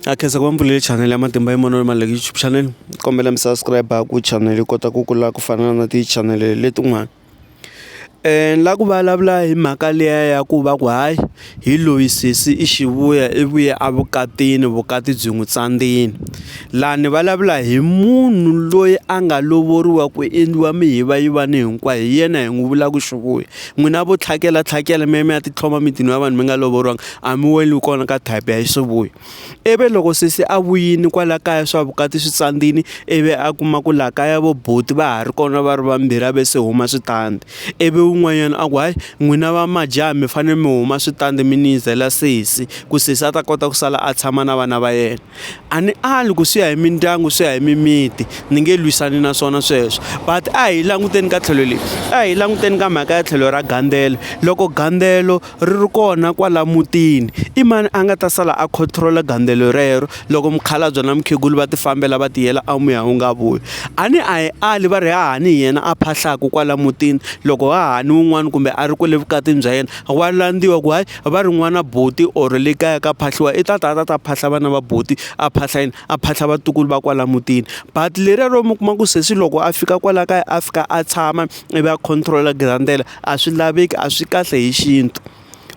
Na khensa ku va ni pfulele chanel ya matimba ya mavonelo ma YouTube chanel ni kombela mi subscribe ku channel yi kota ku kula ku fana na ti channel letin'wana ni lava ku vulavula hi mhaka liya ya ku va ku hayi hi loyi sesi i xivuya i vuye a vukatini vukati byi n'wi tsandzeni laha ni vulavula hi munhu loyi a nga lovoriwa ku endliwa mihiva yivani hinkwayo hi yena hi n'wi vulaka xivuya n'wina vo tlhakela tlhakela mi ya mi ya titlhoma mitini ya vanhu mi nga lovoriwanga a mi weli kona ka type ya xisivuya ivi loko sesi a vuyini kwala kaya swa vukati swi tsandzini ivi a kuma ku laha kaya vo buti va ha ri kona va ri vambirhi a ve se huma switandi ivi un'wanyana a ku hayi n'wina va majaha mi fanele mi huma switandi mi niyizela sesi ku sesi a ta kota ku sala a tshama na vana va yena. A ni ali ku swi ya hi mindyangu swi ya hi mimiti ni nge lwisani na swona sweswo but a hi languteni ka tlhelo leri a hi languteni ka mhaka ya tlhelo ra gandzelo loko gandzelo ri ri kona kwala mutini i mani a nga ta sala a control-a gandzelo rero loko mukhalabye na mukhegula va ti fambela va ti yela a muya wu nga vuyi a ni a hi ali va ri hahani hi yena a phahlaka kwala mutini loko hahani wun'wani kumbe a ri kwale vukatini bya yena wa landziwa ku hayi. va ri n'wana buti or le kaya ka phahliwa i ta ta a ta ta phahla vana va buti a phahla yini a phahla vatukulu va kwala mutini but leriya ro mi kuma ku sesi loko a fika kwala kaya a fika a tshama ivi a control-a girandele a swi laveki a swi kahle hi xintu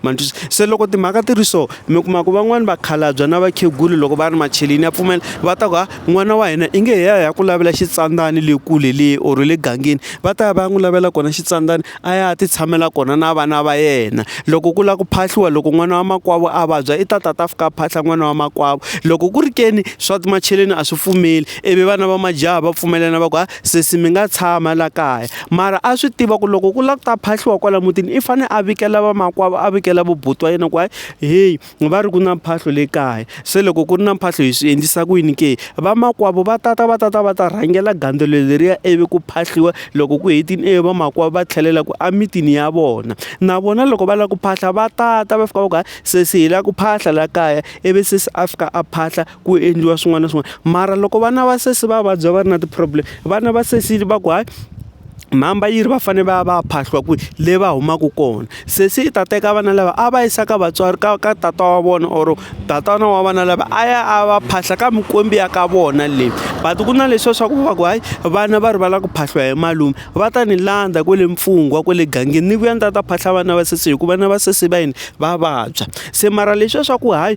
ma twisisa se loko timhaka ti ri so mi kuma ku van'wani vakhalabya na vakhegula loko va ri macheleni ya pfumela va ta ku ha n'wana wa hina i nge hi ya hi ya ku lavela xitsandzani le kule le or le gangeni va ta ya va ya n'wi lavela kona xitsandzani a ya ti tshamela kona na vana va yena loko ku lava ku phahliwa loko n'wana wa makwavo a vabya i ta tata a fika a phahla n'wana wa makwavo loko ku ri ke ni swa macheleni a swi pfumeli ivi vana va majaha va pfumelelana va ku ha sesi mi nga tshama la kaya mara a swi tiva ku loko ku lava ku ta phahliwa kwala mutini i fanele a vikela vamakwavo a vikela va buti wa yena ku hayi heyi. va ri ku na mphahlo le kaya se loko ku ri na mphahlo hi swi endlisa ku yini ke, vamakwavo va tata va tata va ta rhangela gandzelo leriya ivi ku phahliwa loko ku hetile ivi vamakwavo va tlhelela ku emitini ya vona na vona loko va lava ku phahla va tata va fika va ku hayi sesi hi lava ku phahla laha kaya ivi sesi a fika a phahla. ku endliwa swin'wana na swin'wana mara loko vana va sesi va vabya va ri na ti-problem vana va sesi va ku hayi mhamba yi ri va fanele va ya va ya phahliwa kwihi le va humaka kona sesi i ta teka vana lava a va yisa ka vatswari ka ka tata wa vona or tatana wa vana lava a ya a va phahla ka mikwembu ya ka vona leyi but ku na leswiya swa ku va ku hayi vana va ri va lava ku phahliwa hi malume va ta ni landza kwale mpfungwa kwale gangeni ni vuya ni ta ta phahla vana va sesi hikuva vana va sesi va yini va vabya se mara leswiya swa ku hayi.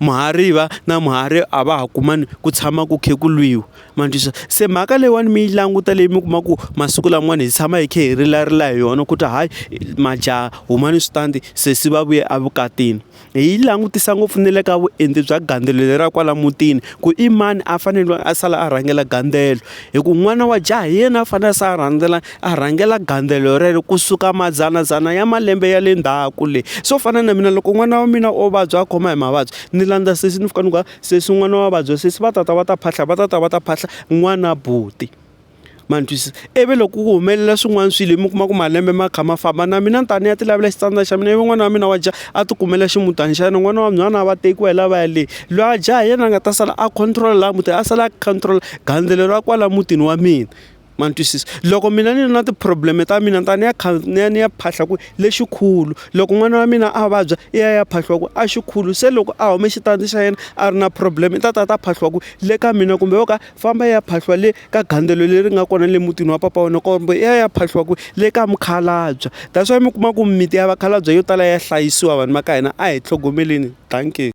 muhariva na muhari a va ha kumani ku tshama ku kha ku lwiwa ma twisisa se mhaka leyiwani mi yi languta leyi mi kuma ku masiku lamawani hi tshama hi kha hi rilarila hi yona ku ta hayi majaha humani switandi se se va vuye evukatini hi yi langutisa ngopfu na le ka vuenti bya gandzelo le ra kwala mutini ku i mani a fanele a sala a rhangela gandzelo hi ku n'wana wa jaha hi yena a fanele a sala a rhandzela. a rhangela gandzelo rero kusuka madzanadzana ya malembe ya le ndzhaku le swo fana na mina loko n'wana wa mina o vabya a khoma hi mavabyi ni landza sesi ni fika ni ku a sesi n'wana wa vabya sesi va tata va ta phahla va tata va ta phahla n'wana buti ma ni twisisa ivi loko ku humelela swin'wana swilo mi kuma ku malembe ma kha ma famba na mina ni ta ni ya ti lavela xitsandza xa mina ivi n'wana wa mina wa dya a ti kumela ximutana xa yena n'wana wa nhwana a va tekiwa hi lavaya le loyi a dya hi yena a nga ta sala a control-a laha mutini a sala a control-a gandzelo ra kwala mutini wa mina. ma ni twisisa loko mina ni ri na ti problem ta mina ni ta ni ya kha ni ya ni ya phahla ku lexikulu loko n'wana wa mina a vabya i ya ya phahliwa ku a xikulu se loko a hume xitandi xa yena a ri na problem i ta ta ta phahliwa ku le ka mina kumbe wo ka famba ya phahliwa le ka gandzelo leri nga kona le mutini wa papa wa wena kumbe i ya ya phahliwa ku le ka mukhalabye that's why mi kuma ku mimiti ya vakhalabye yo tala ya hlayisiwa vanhu va ka hina a hi tlhogomeleni dankie.